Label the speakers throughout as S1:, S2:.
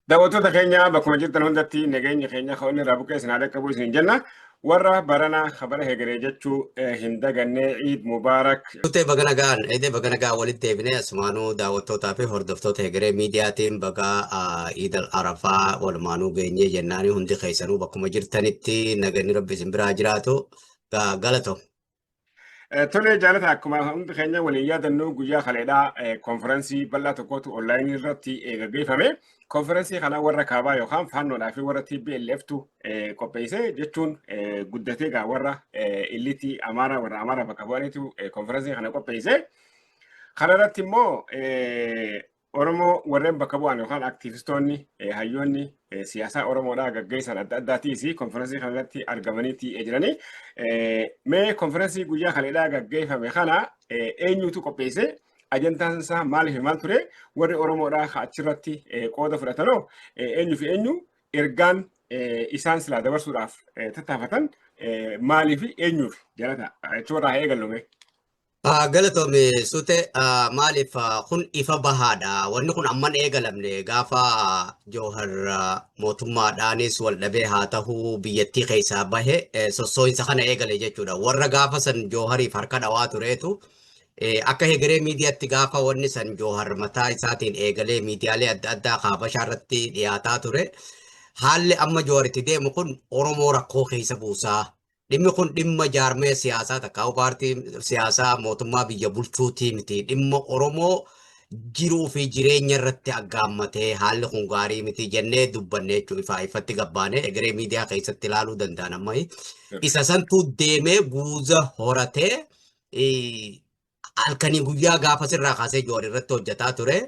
S1: Daawwattoota keenya bakkuma jirtan hundatti nageenyi keenya kan inni irraa buqqee isin haa dhaqqabu isin jenna. Warra barana kabara hegeree jechuu hin daganne Iid Mubaarak. Turtee baga nagaan
S2: eedee baga nagaan walitti deebinee asumaanuu daawwattootaa fi hordoftoota hegeree miidiyaatiin baga Iidal Arafaa walumaanuu geenyee jennaanii hundi keessanuu bakkuma jirtanitti naganni rabbi isin biraa jiraatu galato.
S1: Tole jaalata akkuma hundi keenya waliin yaadannoo guyyaa kaleedhaa konfiraansii bal'aa tokkotu onlaayinii irratti gaggeeffame. Konfiraansii kana warra kaabaa yookaan faannoodhaa fi warra TBLFtu qopheesse jechuun guddatee egaa warra illitii Amaaraa warra Amaaraa bakka bu'aniitu konfiraansii kana qopheesse. Kana irratti immoo Oromoo warreen bakka bu'an yookaan aktiivistoonni eh, hayyoonni eh, siyaasaa Oromoodhaa gaggeessan adda addaatiis konfiraansii kana irratti argamanii tii'ee jiranii. Eh, Mee konfiraansii guyyaa kaleedhaa gaggeeffame kana eh, eenyutu qopheesse? Ajantaan isaa maal fi maal ture? Warri Oromoodhaa ka achirratti eh, qooda fudhatanoo eh, eenyu fi eenyu ergaan eh, isaan silaa dabarsuudhaaf eh, tattaafatan eh, maalii fi eenyuuf jalata? Jechuun irraa haa eegallume. Galatoomi
S2: Sute, maaliif kun ifa bahaadha. Wanni kun amman eegalamne gaafa Joohar mootummaadhaanis wal dhabee haa ta'uu biyyattii keessaa bahe sossoo'insa kana eegale jechuudha. Warra gaafa san Joohariif harka dhawaa tureetu akka hegeree miidiyaatti gaafa wanni san Joohar mataa isaatiin eegalee miidiyaalee adda addaa kaabashaa irratti dhiyaataa ture. Haalli amma Joohar itti deemu kun Oromoo rakkoo keessa buusaa Dhimmi kun dhimma jaarmaya siyaasaa takkaa'u paartii siyaasaa mootummaa biyya bulchuutii miti. Dhimma Oromoo jiruu fi jireenya irratti aggaammatee haalli kun gaarii miti jennee dubbanne jechuun ifaa ifatti gabbaanee egeree miidiyaa keessatti ilaaluu danda'an amma isa santuu deemee guuza horatee halkanii guyyaa gaafa sirraa kaasee joon irratti hojjetaa ture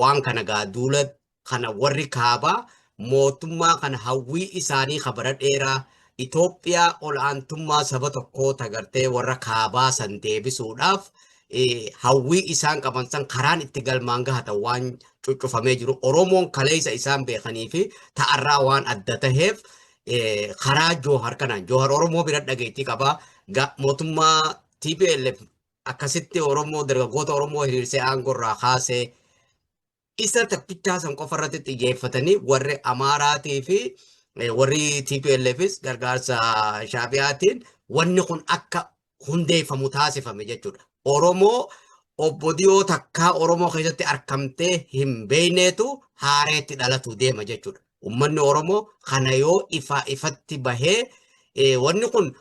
S2: waan kana gaa duula kana warri kaabaa mootummaa kana hawwii isaanii ka bara dheeraa Itoophiyaa ol'aantummaa saba tokkoo tagartee warra kaabaa san deebisuudhaaf hawwii isaan qaban san karaan itti galmaan gahatan waan cuccufamee jiru Oromoon kaleessa isaan beekanii fi ta'arraa waan adda taheef karaa Joohar kanaan Joohar Oromoo bira dhageettii qaba mootummaa TPLF akkasitti Oromoo dargaggoota Oromoo hiriirsee aangorraa kaasee isa tokkichaa san qofa irratti xiyyeeffatanii warri Amaaraatii fi warri TPLFis gargaarsa Shaabiyaatiin wanni kun akka hundeeffamu taasifame jechuudha. Oromoo obbo Diyoo takkaa Oromoo keessatti argamtee hin beekneetu haareetti dhalatu deema jechuudha. Uummanni Oromoo kana yoo ifaa ifatti bahee wanni kun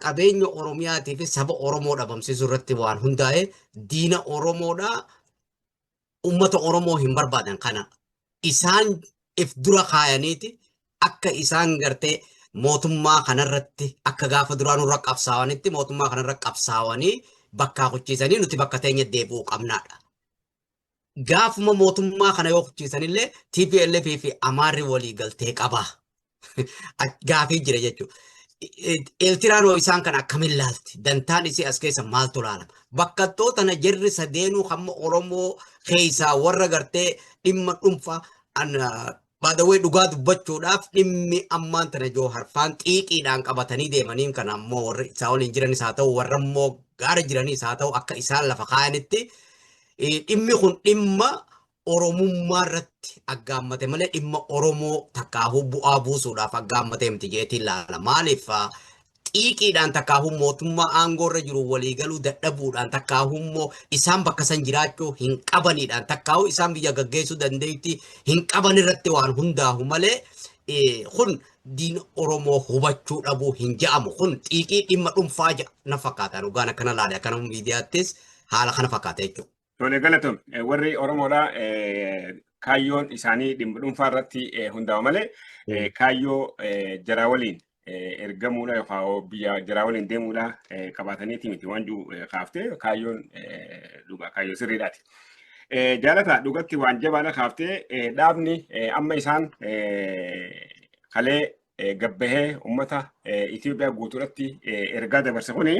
S2: qabeenya Oromiyaatii fi saba Oromoo dhabamsiisuu irratti waan hundaa'e diina Oromoodhaa ummata Oromoo hin barbaadan kana isaan if dura kaayaniiti akka isaan gartee mootummaa kanarratti akka gaafa duraa nurra qabsaawanitti mootummaa kanarra qabsaawanii bakkaa kuchiisanii nuti bakka teenya deebi'uu qabnaadha. Gaafuma mootummaa kana yoo kuchiisanillee TPLF fi Amaarri walii galtee qaba. gaafii jira jechuudha. Eeltiraan hoo isaan kana akkamiin laalti? Dantaan isii as keessa maaltu laalama? Bakkattoota tana jirri sadeenuu hamma Oromoo keessaa warra gartee dhimma dhuunfaa baadawee dhugaa dubbachuudhaaf dhimmi ammaan tana joo harfaan xiiqiidhaan qabatanii deemaniin kana ammoo warri isaa waliin jiranis haa ta'u warra immoo gaara jiranis haa ta'u akka isaan lafa kaayanitti dhimmi kun dhimma Oromummaa irratti aggaammate malee dhimma Oromoo takkaahuu bu'aa buusuudhaaf aggaammate miti jeetiin laala. Maaliif xiiqiidhaan takkaahuu mootummaa aangoo irra jiru waliigaluu dadhabuudhaan takkaahuu immoo isaan bakka san jiraachuu hin qabaniidhaan takkaahuu isaan biyya gaggeessuu dandeetti hin qaban irratti waan hundaahu malee kun diin Oromoo hubachuu dhabuu hin ja'amu. Kun xiiqii dhimma dhuunfaa na fakkaata. Dhugaan akkana laale akkana miidiyaattis haala kana fakkaata jechuudha. Tole galatoom
S1: warri Oromoodha kaayyoon isaanii dhimma dhuunfaa irratti hundaa'u malee kaayyoo jaraa waliin ergamuudha yookaan biyya jaraa waliin deemuudha qabaataniiti miti waan jiru kaaftee kaayyoon dhugaa kaayyoo sirriidhaati. Jaalata dhugatti waan jabaadha kaaftee dhaabni amma isaan kalee gabbahee uummata Itoophiyaa guutuudhatti ergaa dabarse kuni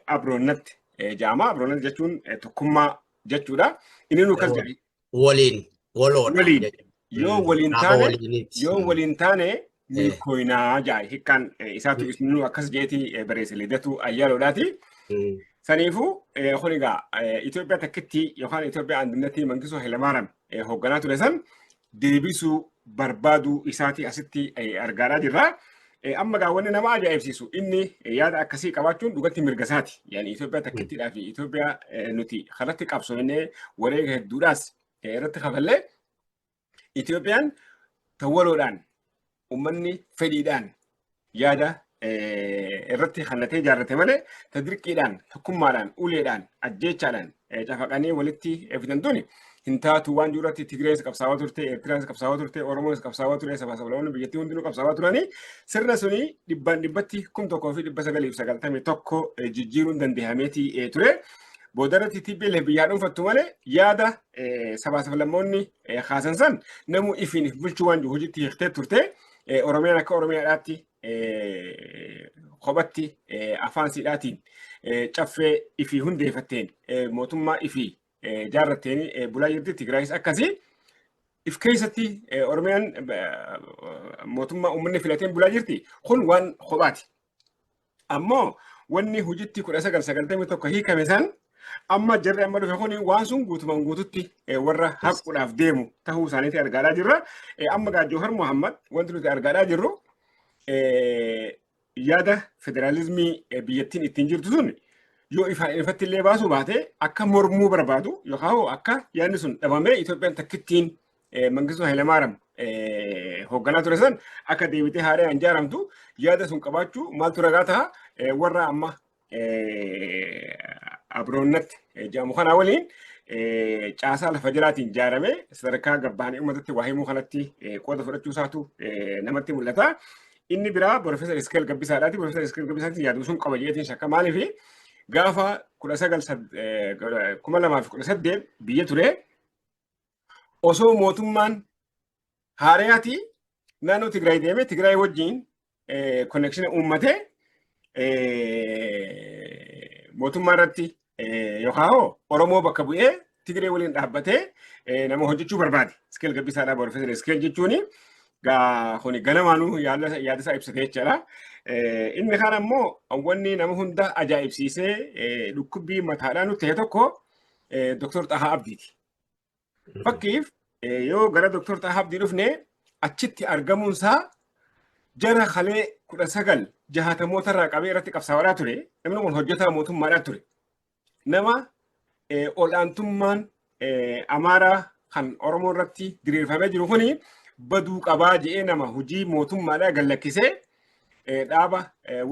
S1: abroonnatti jaama. Abroonnatti jechuun tokkummaa jechuudha. Inni nu akkas jedhe. Waliin waloodha.
S2: Waliin yoo waliin taane
S1: yoo waliin taane milkooyinaa jaay hikkaan isaatu nu akkas jeeti barreesse lidatu ayyaaloodhaati. Saniifuu kun egaa Itoophiyaa takkitti yookaan Itoophiyaa andunnatti Mangisuu Hayilamaariyaam hoogganaa ture san deebisuu barbaaduu isaatii asitti argaadhaa jirra. Amma gaa wanni nama ajaa'ibsiisu inni yaada akkasii qabaachuun dhugatti mirga isaati. Yaani Itoophiyaa takkittiidhaa fi Itoophiyaa nuti kanatti qabsoofnee wareega hedduudhaas irratti kafallee Itoophiyaan tawwaloodhaan ummanni fedhiidhaan yaada irratti hannatee ijaarrate malee ta dirqiidhaan tokkummaadhaan uleedhaan ajjeechaadhaan cafaqanii walitti fidan tuni hin taatu waan jiru irratti Tigreenis qabsaawaa turte Eertiraanis qabsaawaa turte Oromoonis qabsaawaa ture sabaa sablamoonni biyyattii hundinuu qabsaawaa turanii sirna suni dhibbaan dhibbatti kum tokkoo fi dhibba sagaliif sagaltamii tokko jijjiiruun dandeehameeti ture. Boodarratti TPLF biyyaa dhuunfattu malee yaada sabaa sablamoonni kaasan san namu ifiin if bulchuu waan jiru hojiitti hiiktee turte Oromiyaan akka Oromiyaadhaatti kophatti afaan siidhaatiin caffee ifii hundeeffatteen mootummaa ifii jaarratteen bulaa jirti Tigraayis akkasii if keessatti Oromiyaan mootummaa uummanni filateen bulaa jirti kun waan kophaati. Ammoo wanni hojiitti 1991 hiikame san amma jarri amma dhufe kun waan sun guutumaan guututti warra haquudhaaf deemu tahuu isaaniiti argaadhaa jirra. Amma gaa Joohar Muhammad wanti nuti argaadhaa jirru yaada federaalizimii biyyattiin ittiin jirtu sun yoo ifaan ifatti illee baasuu baate akka mormuu barbaadu yookaan akka yaadni sun dhabamee Itoophiyaan takkittiin Mangistuu Hayilamaariyaam hoogganaa ture san akka deebitee haaraan ijaaramtu yaada sun qabaachuu maaltu ragaa ta'a warra amma abroonnatti jedhamu kanaa waliin caasaa lafa jalaatiin ijaaramee sadarkaa gabbaanii uummatatti waa himuu kanatti qooda fudhachuu isaatu namatti mul'ata. Inni biraa Profeesar Iskeel Gabbisaadhaati. Profeesar Iskeel Gabbisaatiin yaaduu sun qaba jedheetiin shakka maaliifi gaafa kudha sagal kuma lamaa fi kudha saddeet biyya ture osoo mootummaan haarayaatii naannoo Tigraay deemee Tigraay wajjin konnekshinii uummatee mootummaa irratti yookaan hoo Oromoo bakka bu'ee Tigree waliin dhaabbatee nama hojjechuu barbaade. Iskeel gabbisaadhaa barreeffatan iskeel jechuun kuni galamaanuu yaadasaa ibsate jechaadha. Inni kaan ammoo wanni nama hunda ajaa'ibsiisee dhukkubbii mataadhaa nutti ta'e tokko Dr. Xahaa Abdiiti. Fakkiif yoo gara Dooktar Xahaa Abdii dhufne achitti argamuunsaa jara kalee kudha sagal jahaatamoota irraa qabee irratti qabsaa'aa ture. Namni kun hojjetaa mootummaadhaa ture. Nama ol'aantummaan Amaaraa kan Oromoo irratti diriirfamee jiru kuni baduu qabaa jedhee nama hojii mootummaadhaa gallakkisee dhaaba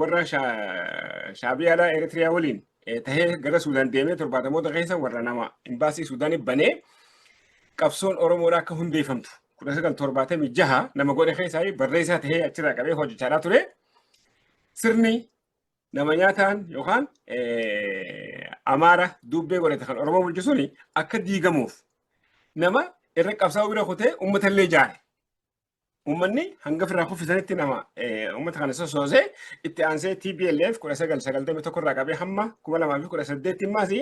S1: warra shaabiyaadhaa Eritiriyaa waliin tahee gara Suudaan deemee torbaatamoota keessa warra nama imbaasii Suudaanii banee qabsoon Oromoodhaa akka hundeeffamtu kudha sagal torbaatamii jaha nama godhe keessaa barreessaa tahee achirraa qabee hojjechaa ture sirni nama nyaataan yookaan amaara duubbee godhate kan Oromoo bulchu suni akka diigamuuf nama irra qabsaa'uu bira kutee uummatallee jaare. Uummanni hanga ofirraa kuffisanitti nama uummata kana sosoosee itti aansee TPLF 1991 irraa qabee hamma 2018 immaas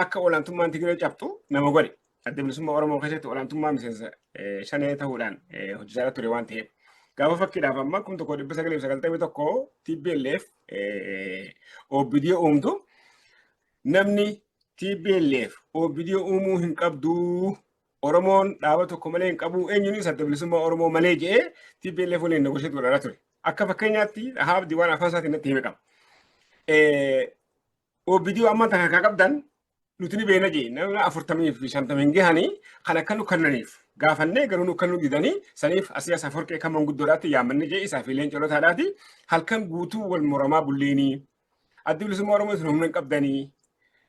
S1: akka olaantummaan Tigiree cabxu nama godhe. Adda bilisummaa Oromoo keessatti olaantummaa miseensa shanee ta'uudhaan hojjechaa ture waan ta'eef. Gaafa fakkiidhaaf amma 1991 TPLF OBD uumtu namni TPLF OBD uumuu hin qabdu Oromoon dhaaba tokko malee hin qabu eenyunis adda bilisummaa Oromoo malee jedhee TPLF waliin negoosheetti godharaa ture. Akka fakkeenyaatti haabdi waan afaan isaatiin natti hime qaba. OBD waan manta kan qabdan nuti ni beena jee nama afurtamii fi shantamii hin gahanii kan akka nu kannaniif gaafannee garuu nu kan nu didanii saniif asii asaa forqee kan manguddoodhaatti yaamanne jee isaa fi leencolotaadhaati halkan guutuu wal muramaa bulleenii Addi bilisummaa Oromoo isin humna hin qabdanii.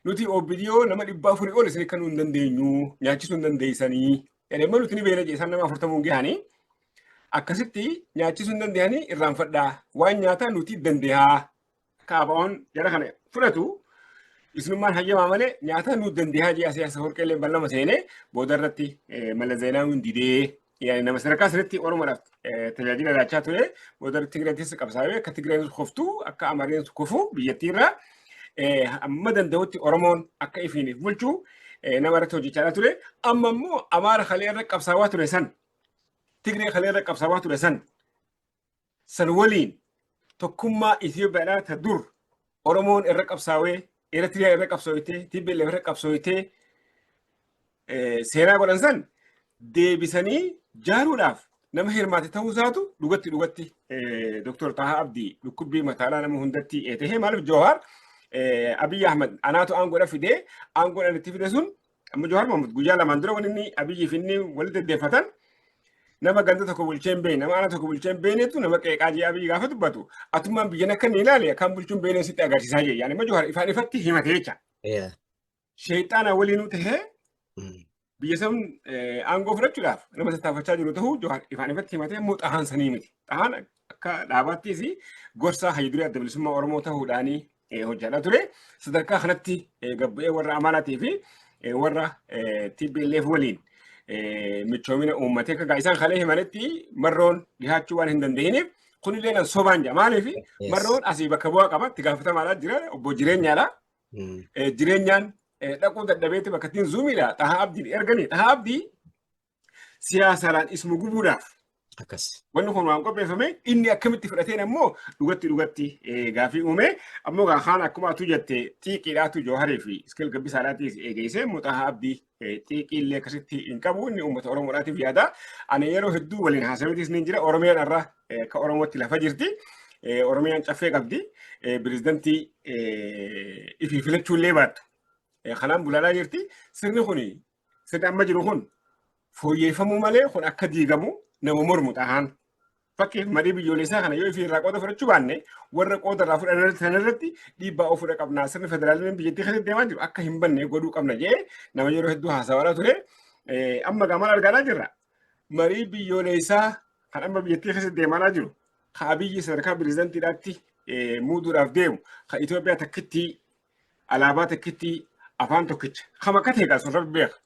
S1: Nuti OBDO nama dhibba afurii ol isin kennuu hin dandeenyu. Nyaachisuu hin dandeessanii. Jedhee immoo nuti ni beela jeesaan nama afurtamuu hin gahanii. Akkasitti nyaachisuu hin dandeenyanii irraanfadhaa. Waan nyaataa nuti dandeehaa. Kaabaawwan jara kana fudhatu isinummaan hayyamaa malee nyaataa nuti dandeehaa jee asii asa horqeellee ballama seenee booda irratti mala zeenaa hin didee yaani nama sadarkaa sanitti Oromoodhaaf eh, tajaajila laachaa ture booda Tigreen keessa qabsaa'ee akka Tigreen kuftu akka Amareen kufu biyyattii irraa eh, hamma danda'utti Oromoon akka ifiiniif bulchu eh, nama irratti hojjechaa ture amma immoo Amaara kalee irra qabsaawaa ture san Tigree kalee irra qabsaawaa ture san san waliin tokkummaa Itoophiyaadhaa ta dur Oromoon irra qabsaawee Eritrea irra qabsooytee TPLF irra qabsooytee seenaa godhan san deebisanii jaaruudhaaf nama hirmaate ta'uu isaatu dhugatti dhugatti Dr. Taha Abdii dhukkubbii mataalaa nama hundatti ta'ee maaliif Jawahar Abiy Ahmed anaatu aangoodha fidee aangoodhaan itti fide sun Amma Jawaar Mohaammed guyyaa lamaan dura wanni inni Abiyyiif inni walitti deddeeffatan nama ganda tokko bulchee hin beekne nama aanaa tokko bulchee hin beeknetu nama qeeqaa jee Abiyyi gaafa dubbatu atummaan biyyan akka inni ilaale akkaan bulchuun beekne sitti agarsiisaa jee yaani amma Jawaar ifaan ifatti himate jecha. Yeah. Sheexaana waliinuu tahee Mm. biyya san aangoo fudhachuudhaaf nama tattaafachaa jiru ta'uu Jawaar ifaan ifatti himatee immoo xahaan sanii miti. Xahaan Akka dhaabattis gorsaa hayyu duree adda bilisummaa Oromoo ta'uudhaan hojjechaa ture. Sadarkaa kanatti gabba'ee warra Amaaraatii fi warra TPLF waliin michoomina uummatee akka isaan kalee himanitti marroon dhihaachuu waan hin dandeenyeef kunillee nan sobaan jira. Maaliif marroon asii bakka bu'aa qaba itti gaafatamaadha jira obbo jireenyaadha. Jireenyaan dhaquu dadhabeetti bakka ittiin zuumiidha. Xahaa Abdiin erganii xahaa Abdii siyaasaadhaan isuma gubuudhaaf akkas. wanni kun waan qopheeffame inni akkamitti fudhateen ammoo dhugatti dhugatti eh, gaafii uume ammoo gaa kaan akkuma atuu jette xiiqiidhaatu jooharii fi iskil gabbisaadhaatiif eegeessee muxahaa abdii eh, xiiqii illee akkasitti hin qabu inni uummata oromoodhaatiif yaada ani yeroo hedduu waliin haasawitis ni jira oromiyaan irra eh, akka oromootti lafa jirti Eh, oromiyaan caffee qabdi Eh, pirezidantii eh, ifii filachuu illee baattu Eh, kanaan bulaalaa jirti sirni kun Sirni amma jiru kun fooyyeffamuu malee kun akka diigamu nama mormu dhahaan. Fakkeef marii biyyoolessaa kana yoo irraa qooda fudhachuu baanne warra qooda irraa fudhan sanarratti dhiibbaa ofirra qabnaa sirni federaalizimii biyyattii keessatti deemaa jiru akka hin banne godhuu qabna jee nama yeroo hedduu haasawaa ture amma gamaan argaa jirra. Marii biyyoolessaa kan amma biyyattii keessatti deemaa jiru kan abiyyi sadarkaa pirezidantiidhaatti muuduudhaaf deemu kan Itoophiyaa takkittii alaabaa takkitti afaan tokkicha kama akka ta'e sun rabbi beeka.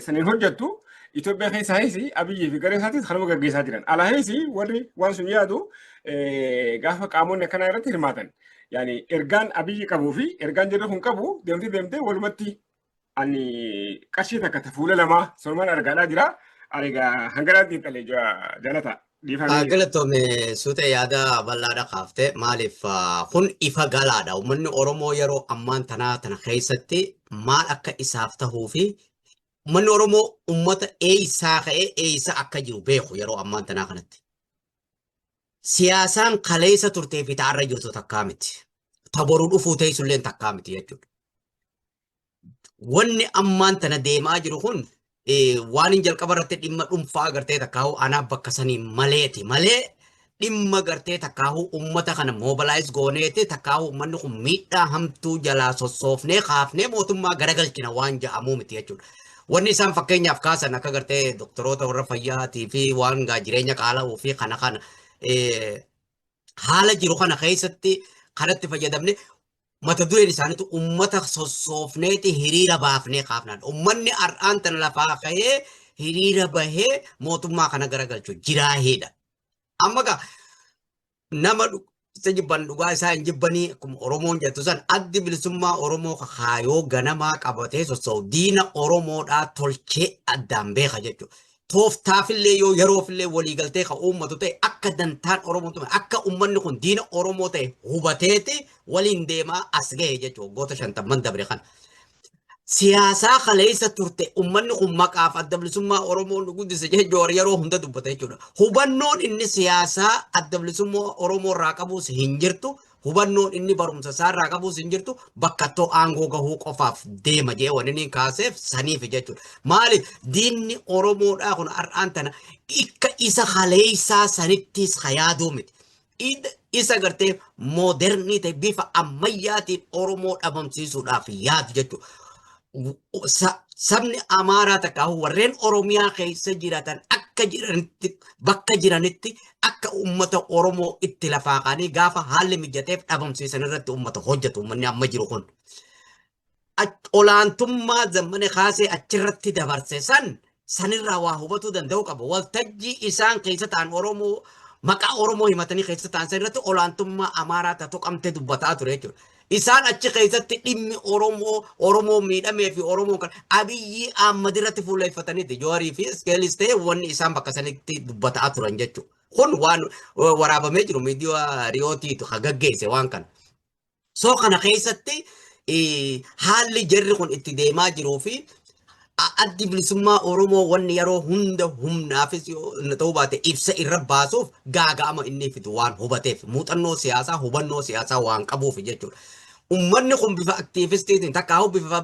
S1: Saniin hojjettu Itoophiyaa keessa heesi Abiyyii fi garee isaatis kanuma gaggeessaa jiran. Ala heesi warri waan sun yaadu gaafa qaamonni akkanaa irratti hirmaatan. Yaani ergaan Abiyyi qabuu fi ergaan jirri kun qabu deemtee deemtee walumatti ani qarshii takka ta fuula lamaa sorumaan argaadhaa jira. Ani egaa hanganaan xiinxalee jira jaalata. Dhiifamee. Galatoome
S2: suutee yaada bal'aadha kaafte maaliif ah, kun ifa galaadha uummanni Oromoo yeroo ammaan tanaa tana keessatti maal akka isaaf tahuu fi uummanni Oromoo uummata eeysaa ka'ee eeysa akka jiru beeku yeroo ammaan tanaa kanatti. siyaasaan kaleessa turtee fi ta'arra jirtu takkaa miti. Ta boru dhufuu teessulleen takkaa miti jechuudha. Wanni ammaan tana deemaa jiru kun waan hin jalqaba irratti dhimma dhuunfaa agartee takkaahuu anaa bakka sanii maleeti malee dhimma gartee takkaahuu uummata kana mobilaayiz gooneeti takkaahuu uummanni kun miidhaa hamtuu jalaa sossoofnee kaafnee mootummaa garagalchina waan ja'amuu miti jechuudha. Wanni isaan fakkeenyaaf kaasan akka gartee doktoroota warra fayyaatii fi waan gaa jireenya qaala'uu fi kana kana haala jiru kana keessatti kanatti fayyadamne mata dureen isaaniitu uummata sossoofneeti hiriira baafnee kaafnaan. Uummanni har'aan tana lafaa ka'ee hiriira bahee mootummaa kana garagalchu jiraa heedha. Amma gaa nama isa jibban dhugaa isaa hin jibbanii akkuma Oromoon jettu san addi bilisummaa Oromoo kaayoo ganamaa qabatee sossa'u diina Oromoodhaa tolchee addaan beeka jechuudha. Tooftaafillee yoo yeroofillee waliigaltee kan uummatu ta'e akka dantaan Oromoo tumame akka uummanni kun diina Oromoo ta'e hubateeti waliin deemaa as gahe jechuudha waggoota shantamman dabre kana. siyaasaa kaleessa turte ummanni kun maqaaf adda bilisummaa Oromoo nu guddise jedhee Jowaar yeroo hunda dubbata jechuudha. Hubannoon inni siyaasaa adda bilisummaa Oromoo irraa qabus hin jirtu. Hubannoon inni barumsa isaa irraa qabus hin jirtu. Bakkattoo aangoo gahuu qofaaf deema jedhee waan inni kaaseef saniif jechuudha. Maali diinni Oromoodhaa kun har'aan tana akka isa kaleessaa sanittis ka yaaduu miti. Id isa gartee moodernii ta'e bifa ammayyaatiin Oromoo dhabamsiisuudhaaf yaadu jechuudha. Sabni Amaaraa takka warreen Oromiyaa keessa jiraatan akka jiranitti bakka jiranitti akka uummata Oromoo itti lafaaqanii gaafa haalli mijateef dhabamsiisan irratti uummata hojjetu uummanni amma jiru kun. olaantummaa zammane kaasee achirratti dabarse san sanirraa waa hubatuu danda'uu qaba. Waltajjii isaan keessa ta'an Oromoo maqaa Oromoo himatanii keessa ta'an san irratti olaantummaa Amaaraa tatu qabtee dubbataa ture jechuudha. Isaan achi keessatti dhimmi Oromoo Oromoo miidhamee fi Oromoo kan Abiyyii Ahmad irratti fuulleeffataniiti. Joorii fi Iskeelis ta'e wanni isaan bakka sanitti dubbataa turan jechuudha. Kun waan waraabamee jiru miidiyaa Riyootiitu kan gaggeesse waan kana. So kana keessatti haalli jarri kun itti deemaa jiruu fi addi bilisummaa Oromoo wanni yeroo hunda humnaafis ta'uu baate ibsa irra baasuuf gaaga'ama inni fidu waan hubateef muuxannoo siyaasaa hubannoo siyaasaa waan qabuuf jechuudha. Uummanni kun bifa aktiivistiitiin takkaahuu bifa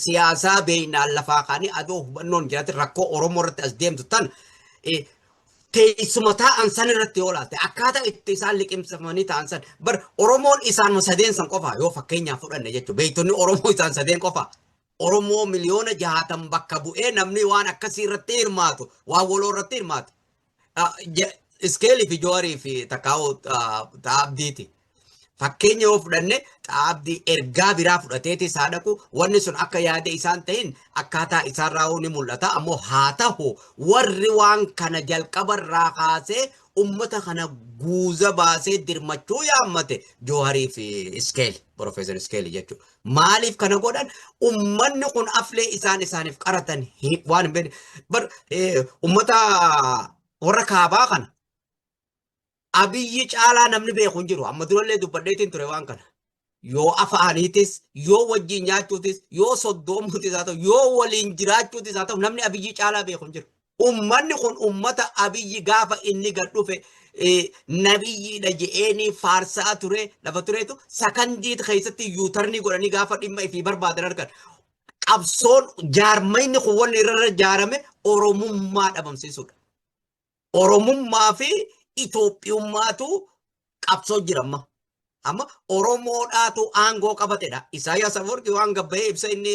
S2: siyaasaa beeynaan lafaa kaanii adoo hubannoon jiraatin rakkoo Oromoo irratti as deemtu tan teessuma taa'an san irratti yoo laalte akkaataa itti isaan liqimsamanii taa'an san bar Oromoon isaanuma sadeen san qofaa yoo fakkeenyaaf fudhanne jechuudha beektonni Oromoo isaan sadeen qofaa Oromoo miliyoona jahaatan bakka bu'ee namni waan akkasii irratti hirmaatu waan waloo irratti hirmaatu Iskeelii fi Jawaarii fi Takkaawoo Xaabdiiti. Fakkeenya yoo fudhanne Xaabdii ergaa biraa fudhateeti isaa dhaqu wanni sun akka yaada isaan ta'in akkaataa isaan raawuu ni mul'ata ammoo haa ta'u warri waan kana jalqaba irraa kaasee ummata kana guuza baasee dirmachuu yaammate Jawaarii fi Iskeeli Profeesar Iskeeli jechuudha. Maaliif kana godhan ummanni kun aflee isaan isaaniif qaratan hi- waan hin beekne. Bar eh, ummata warra kaabaa kana abiyyi caalaa namni beeku hin jiru. Amma durallee dubbadheetiin ture waan kana. Yoo afaaniitis, yoo wajjin nyaachuutis, yoo soddoomuutis haa ta'u, yoo waliin jiraachuutis haa ta'u namni abiyyi caalaa beeku hin jiru. Ummanni kun ummata Abiyyi gaafa inni gad dhufe nabiyyiidha je'eeni faarsaa ture lafa tureetu sakandii keessatti yuutarnii godhanii gaafa dhimma ifii barbaadan argan. Qabsoon jaarmayni kun wanni irra ijaarame Oromummaa dhabamsiisuudha. Oromummaa fi Itoophiyummaatu qabsoo jira amma. Amma Oromoodhaatu aangoo qabatedha. Isaayyaas Afawarqii waan gabbahee ibsa inni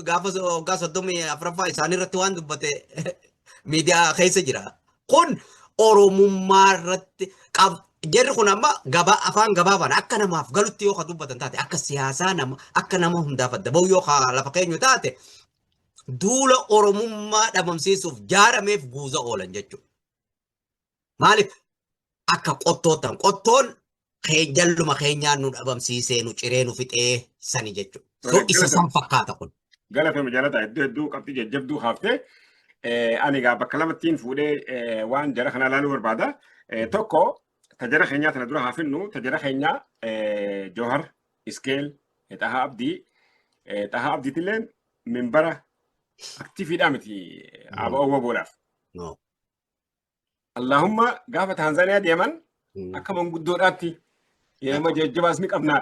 S2: gaafa waggaa soddomii afraffaa isaaniirratti waan dubbate miidiyaa keessa jira. Kun Oromummaa irratti jarri kun amma gabaa afaan gabaabaan akka namaaf galutti yoo ka dubbatan taate akka siyaasaa nama akka nama hundaaf adda bahu yoo ka lafa keenyu taate duula Oromummaa dhabamsiisuuf jaarameef guuza oolan jechuudha. Maaliif akka qottoottan qottoon jalluma keenyaa nu dhabamsiisee nu ciree nu fixee sani jechuudha. So isa san fakkaata kun. Galatoomi jaalataa
S1: iddoo hedduu qabxii jajjabduu kaaftee ani egaa bakka lamattiin fuudhee waan jara kanaa ilaaluu barbaada. Tokko tajara keenyaa tana dura haafinnu tajara keenyaa Joohar Iskeel Xahaa Abdii Xahaa Abdiitilleen minbara aktiifiidhaa miti ABO boodhaaf. Allaahumma gaafa Taanzaaniyaa deeman Mm. akka manguddoodhaatti eema jajjabaas ni qabna.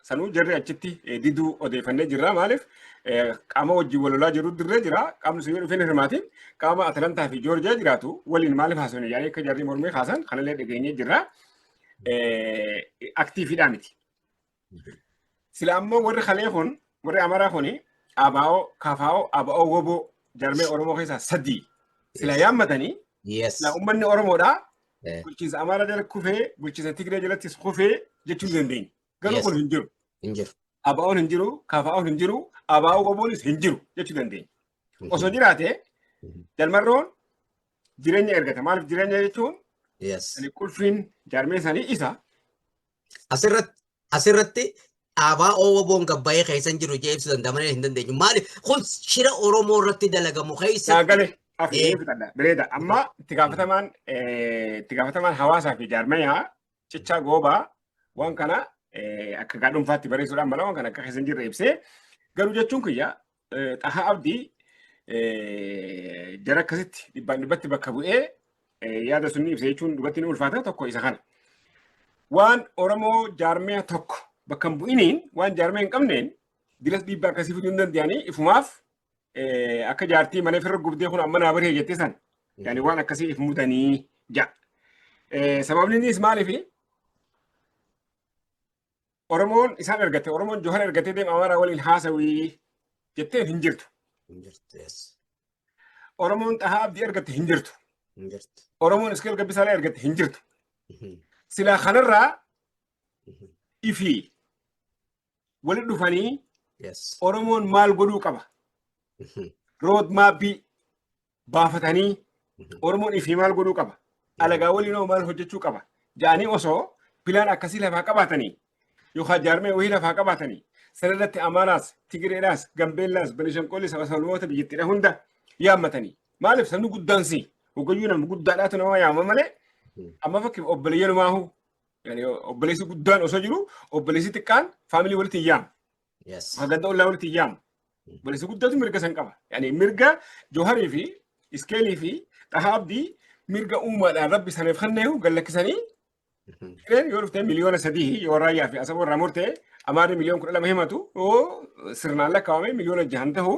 S1: Sanuu jarri achitti eh, diduu odeeffannee jirra. Maaliif eh, qaama wajjin wal lolaa jiru dirree jira. Qaamni sun yoo dhufee hin hirmaatin qaama Atalantaa fi Joorjiyaa jiraatu waliin maaliif haasofne yaa'ee akka jarri mormii kaasan kanallee dhageenyee jirra. Eh, Aktiifiidhaa miti. Sila ammoo warri kalee kun warri Amaraa kun ABO, KFO, ABO, WBO jarmee Oromoo keessaa sadii sila yaammatanii Yes. sila uummanni Oromoodhaa Eh. bulchiinsa Amaaraa jala kufee bulchiinsa Tigree jalattis kufee jechuu hin dandeenye. Garuu Yes. kun hin jiru. Hin jiru. ABO'n hin jiru, KFO'n hin jiru, ABO WBO'nis hin jiru jechuu dandeenya. Osoo jiraate Mhm. jalmarroon jireenya ergata. Maaliif jireenya jechuun Yes. ani qulfiin jaarmee sanii isa
S2: Asirratti dhaabaa OWOn gabbayee keessa hin jiru jee ibsu danda'a malee hin dandeenyu. Maali kun shira Oromoo irratti dalagamu keessa. Gaagale akkamii fudhadha.
S1: Bireeda amma itti gaafatamaan itti gaafatamaan hawaasaa fi jaarmayaa cichaa goobaa waan kana akka gaadhunfaatti bareessuudhaan mala waan kana akka keessa hin jirre ibsee garuu jechuun kiyya Xahaa Abdii jara akkasitti dhibbaan dhibbatti bakka bu'ee yaada sun ibsa jechuun dubartiin ulfaata tokko isa kana. Waan Oromoo jaarmee tokko bakka hin bu'iniin waan jaarmee hin qabneen dilas dhiibbaa akkasii fiduu hin danda'anii ifumaaf akka jaartii malee firra gubdee kun amma naa baree jettee san yaani waan akkasii if mudanii ja. Sababni innis maaliif Oromoon isaan argate Oromoon Johar argatee deema Amaaraa waliin haasawii jetteen hin jirtu. Hin jirtu. Yes. Oromoon Xahaa Abdii argatte hin jirtu. Hin jirtu. Oromoon Iskeel Gabbisaalaa argatte hin jirtu. Mhm. Silaa kanarraa Mhm. ifi walitti dhufanii Yes. Oromoon maal godhuu qaba? Mhm. Rood maappii baafatanii Oromoon ifii maal godhuu qaba? Alagaa waliin hoo maal hojjechuu qaba? Ja'anii osoo pilaan akkasii lafaa qabaatanii yookaan jaarmee wayii lafaa qabaatanii sanarratti Amaaraas, Tigireedhaas, Gambeellaas, Benishanqoollis, Sabasabaloota biyyattiidha hunda yaammatanii. Maaliif sabni guddaan si hogayyuu nama guddaadhaatu nama yaama malee amma fakkeef obboleeyyan maahu obboleessi guddaan osoo jiru obboleessi xiqqaan faamilii walitti hin yaamu. Yes. Haganda ollaa walitti hin yaamu. Balleessa guddaatu mirga san qaba. Yani mirga Jooharii fi Iskeelii fi Dhahaa Abdii mirga uumaadhaan rabbi saniif kenneehu gallakkisanii Mhm. Kireen yoo dhufte miliyoona sadii yoo raayyaa fi asaba irraa murte amaarri miliyoon kudha lama himatu yoo sirnaan lakkaawame miliyoona jahan tahu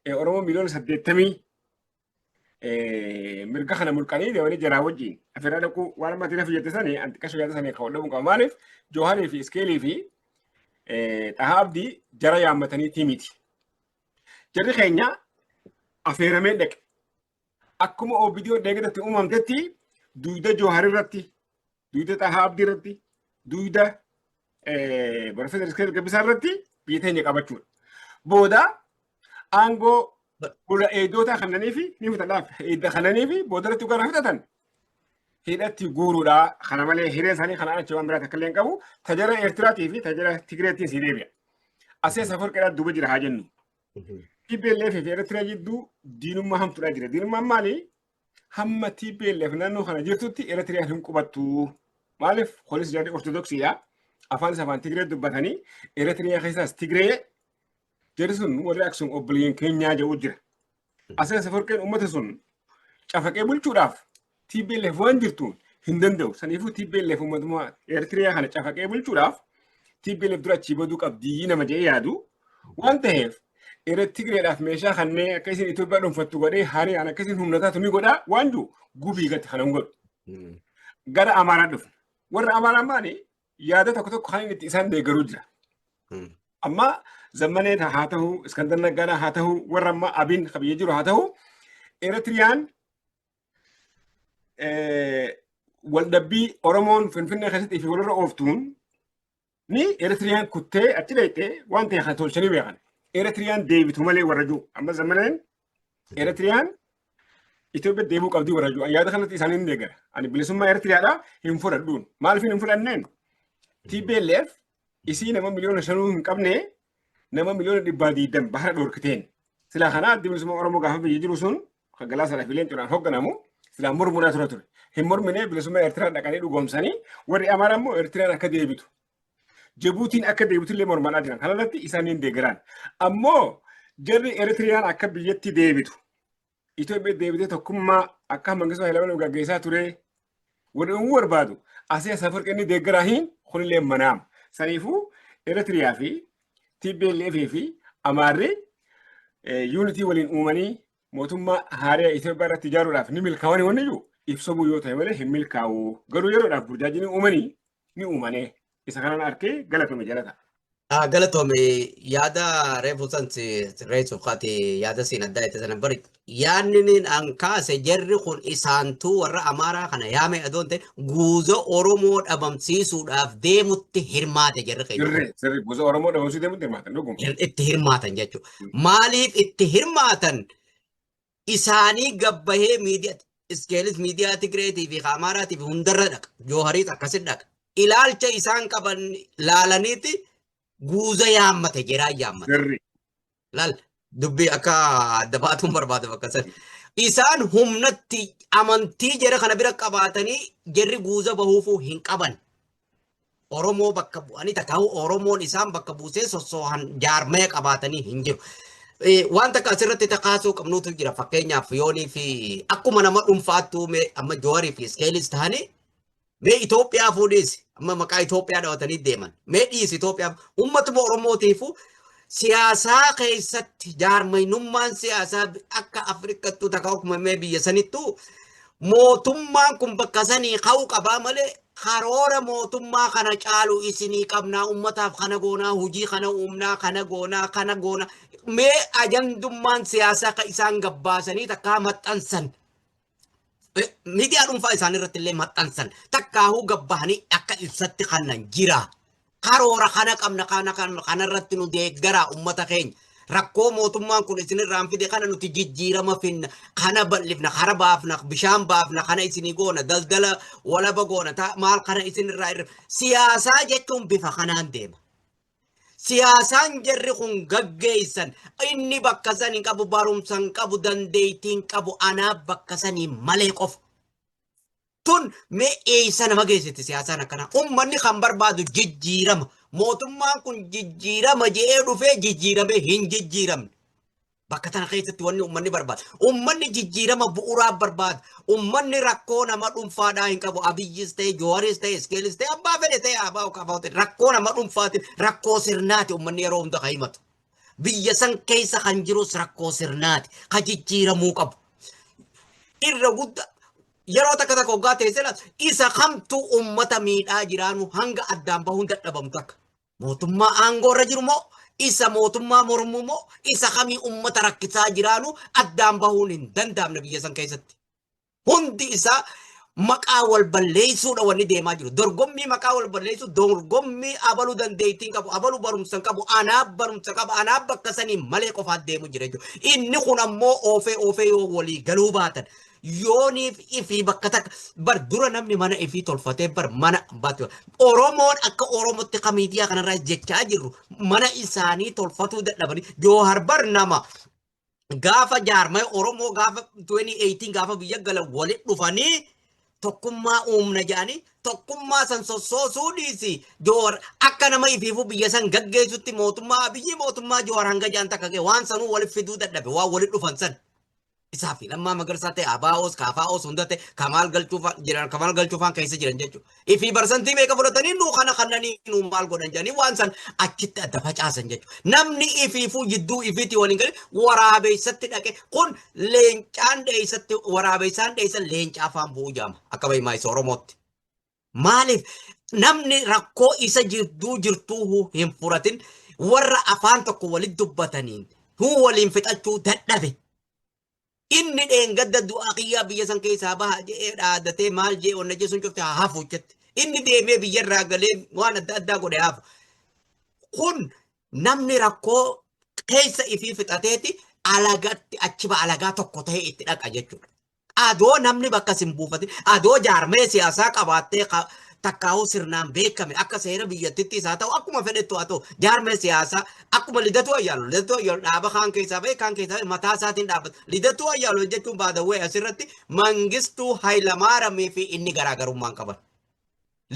S1: eh, oromoo miliyoona saddeettamii mirga kana mulqanii deemanii jaraa wajjin asirraa dhaquu waan amma ati lafa jette sani anti qasha yaada sani kan dhabuun qaba maaliif jooharii fi iskeelii fi dhahaa abdii jara yaammatanii timiti. Jarri keenya afeeramee dhaqe. Akkuma OBDO deeggarratti uumamtetti duuda jooharii irratti duyda Xahaa Abdii irratti, duyda Profeesar Iskeel Gabbisaa irratti biyya teenya qabachuudha. Booda aangoo gola eegdotaa kannanii fi ni fudhataaf eegda kannanii fi booda irratti gara fudhatan hidhatti guuruudha. Kana malee hireen isaanii kanaan achi waan biraa takka illee hin qabu. Tajaajila Eertiraatii fi tajaajila Tigireetiin si deebi'a. Asee safarqeedhaa duuba jira haa jennu. TPLF fi Eertiraa jidduu diinummaa hamtuudhaa jira. Diinummaan maali? hamma TPLF naannoo kana jirtutti Eritrea hin qubattu. Maaliif kunis jarri Ortodoksiidha. Afaan isa afaan Tigree dubbatanii Eritrea keessaas Tigree jarri sun warri Aksum obboleeyyan keenyaa jedhu jira. Asirra safarqeen uummata sun cafaqee bulchuudhaaf TPLF waan jirtuun hin danda'u. Saniifuu TPLF uummatuma Eritrea kana cafaqee bulchuudhaaf TPLF dura achii baduu qabdii nama jedhee yaadu. Waan ta'eef Irra Tigreedhaaf meeshaa kannee akka isin Itoophiyaa dhuunfattu godhee haree an akka isin humna taatu ni godhaa waan jiru gubii gatti kana hin godhu. Gara Amaaraa dhufna. Warra Amaaraa maali yaada tokko tokko kan inni itti isaan deeggaruu jira. Amma zammanee haa ta'u, Iskandar Naggaadhaa haa ta'u, warra amma Abiin qabiyyee jiru haa ta'u, Eritiriyaan waldhabbii Oromoon Finfinnee keessatti fi walirra ooftuun ni Eritiriyaan kuttee achi dhayxee waan ta'e kan tolchanii beekan. Eritiriyaan deebitu malee warra jiru. Amma zammaneen Eritiriyaan Itoophiyaa deebuu qabdii warra jiru. Yaada kanatti isaanii ni deeggara. Ani bilisummaa Eritiriyaadhaa hin fudhadhuun. Maaliif hin fudhanneen? TPLF isii nama miliyoona shanuu hin qabne nama miliyoona dhibbaa diidam bahara dhorkiteen silaa kanaa addi bilisummaa Oromoo gaafa biyya jiru sun kan galaa sana fileen cunaan hogganamu silaa mormunaa tura ture. Hin morminee bilisummaa Eertiraa dhaqanii dhugoomsanii warri Amaaraa immoo Eertiraan akka deebitu. Jibuutiin akka deebitu illee mormanaa jiran. Kana irratti isaaniin deegaraan. Ammoo jarri Eertiraan akka biyyatti deebitu. Itoophiyaa deebitee tokkummaa akka Mangistuu Hayilamaariyaam gaggeessaa ture wal uumuu barbaadu asii as Afawarqi inni deeggaraa hin kunillee manaam. Saniifuu Eritiriyaa fi TPLF fi Amaarri yuunitii waliin uumanii mootummaa haaraa Itoophiyaa irratti ijaaruudhaaf ni milkaa'anii wanni jiru ibsamuu yoo ta'e malee hin milkaa'u. Garuu yeroodhaaf burjaajinii uumanii ni uumanee isa kanan arkee galatome jalata. Galatome
S2: yaada reefu san reessuuf kaate yaada siin addaa itti sana bari yaadni niin an kaase jarri kun isaantuu warra amaaraa kana yaame adoon ta'e guuza oromoo dhabamsiisuudhaaf deemutti hirmaate jarri keenya. Sirri sirri guuza oromoo dhabamsiisuuf
S1: deemutti hirmaatan dhuguma. Itti hirmaatan
S2: jechuudha. Maaliif itti hirmaatan isaanii gabbahee miidiyaa iskeelis miidiyaa Tigireetii fi Amaaraatii fi hundarra dhaqa. Joohariis akkasi dhaqa. Ilaalcha isaan qaban laalaniiti guuza yaammate jeraa yaammate. Garri. Laal dubbii akka adda baatuun barbaadu bakka sana. Isaan humnatti amantii jara kana bira qabaatanii jarri guuza bahuufuu hin qaban. Oromoo bakka bu'anii takaa'u Oromoon isaan bakka buusee sossoohan jaarmaya qabaatanii hin jiru. Wanta akka asirratti takaasuu qabnuutu jira fakkeenyaaf yoonii fi akkuma nama dhuunfaattuu mee amma joorii fi iskeelis ta'anii mee Itoophiyaa fuudhiis amma maqaa Itoophiyaa dhawatanii deeman mee dhiis Itoophiyaa uummatuma Oromootiifu Siyaasaa keessatti jaarmaynummaan siyaasaa akka Afrikattuu takka uumamee biyya sanittuu mootummaan kun bakka sanii ka'uu qabaa malee karoora mootummaa kana caalu isinii qabnaa ummataaf kana goonaa hojii kana uumnaa kana goonaa kana goonaa mee ajandummaan siyaasaa kan isaan gabbaasanii takkaa maxxansan miidiyaa dhuunfaa isaanii irratti illee maxxansan takkaahuu gabbahanii akka ibsatti kannan jira. Karoora kana qabna kana kana irratti nu deeggaraa uummata keenya. Rakkoo mootummaan kun isinirraan fide kana nuti jijjiirama finna kana bal'ifna kana baafna bishaan baafna kana isinii goona daldala walaba goona maal kana isinirraa irra siyaasaa jechuun bifa kanaan deema. Siyaasaan jarri kun gaggeessan inni bakka san hin qabu, barumsa hin qabu, dandeettii hin qabu, anaa bakka sanii malee qofa. Tun mee eessa nama geessiti siyaasaan akkanaa? Uummanni kan barbaadu jijjiirama. Mootummaan kun jijjiirama jedhee dhufee jijjiiramee hin jijjiiramne. Bakka tana keessatti wanni ummanni barbaadu. Ummanni jijjiirama bu'uuraa barbaadu. Ummanni rakkoo nama dhuunfaadhaa hin qabu. Abiyyis ta'e, Jooharis ta'e, Iskeelis ta'e, abbaa fedhe ta'e, abbaa ukaafaa ta'e. Rakkoo nama dhuunfaati, rakkoo sirnaati ummanni yeroo hunda kan himatu. Biyya san keessa kan jirus rakkoo sirnaati. Kan jijjiiramuu qabu. Irra guddaa yeroo takka takka hoggaa teessee laata isa kamtu ummata miidhaa jiraanu hanga addaan bahuun dadhabamtu akka. Mootummaa aangoo irra jiru moo isa mootummaa mormuu moo isa kamii ummata rakkisaa jiraanu addaan bahuun hin danda'amne biyya san keessatti. Hundi isaa maqaa wal balleessuudha wanni deemaa jiru. Dorgommii maqaa wal balleessuu dorgommii abalu dandeettiin qabu abalu barumsan qabu anaa barumsa qaba anaa bakka saniin malee qofaat deemu jira jechuudha. Inni kun ammoo oofee oofee yoo walii galuu baatan yooniif ifii bakka takka bar dura namni mana ifii tolfatee bar mana baatu oromoon akka oromootti ka miidiyaa kanarraa jechaa jirru mana isaanii tolfatuu dadhabanii joohar bar nama gaafa jaarmaya oromoo gaafa 2018 gaafa biyya galan waliin dhufanii tokkummaa uumna jedhanii tokkummaa san sossoosuu dhiisi joohar akka nama ifiifuu biyya san gaggeessutti mootummaa biyyi mootummaa joohar hanga jaan takka ga'e waan sanuu waliif fiduu dadhabe waan waliin dhufan san. Isaa fi Lammaa Magarsaa ta'e Abaawoos Kaafaa'oos hunda ta'e Kamaal Galchuufaan jiran Kamaal Galchuufaan keessa jiran jechuudha. Ifii barsantii meeqa fudhatanii nuu kana kannanii nuu maal godhan jedhanii waan san achitti adda facaasan jechuudha. Namni ifiifuu jidduu ifiitii waliin galee waraabeessatti dhaqe kun leencaan dheessatti waraabeessaan dheessan leencaa afaan bu'uu jaama akka bahimaa isa Oromootti. Maaliif namni rakkoo isa jidduu jirtuu hin furatin warra afaan tokko walitti dubbataniin huu waliin fixachuu dadhabe. Inni dheengadda du'aa kiyyaa biyya san keessaa baha jedhee dhaadatee maal jee onna jechuun cufte haa hafu jette. Inni deemee biyya irraa galee waan adda addaa godhe hafu. Kun namni rakkoo keessa ifii fixateeti alagatti achiba alagaa tokko ta'ee itti dhaqa jechuudha. Adoo namni bakka sin buufatin, adoo jaarmee siyaasaa qabaattee ka- takkaahuu sirnaan beekame akka seera biyyattitti isaa ta'u akkuma fedhettu haa ta'u jaarmee siyaasaa akkuma lidatuu ayyaalu lidatuu ayyaalu dhaaba kaan keessaa ba'e kaan keessaa ba'e mataa isaatiin dhaabbata lidatuu ayyaalu jechuun baadawwee asirratti mangistuu hayilamaaramii fi inni garaagarummaan qaban.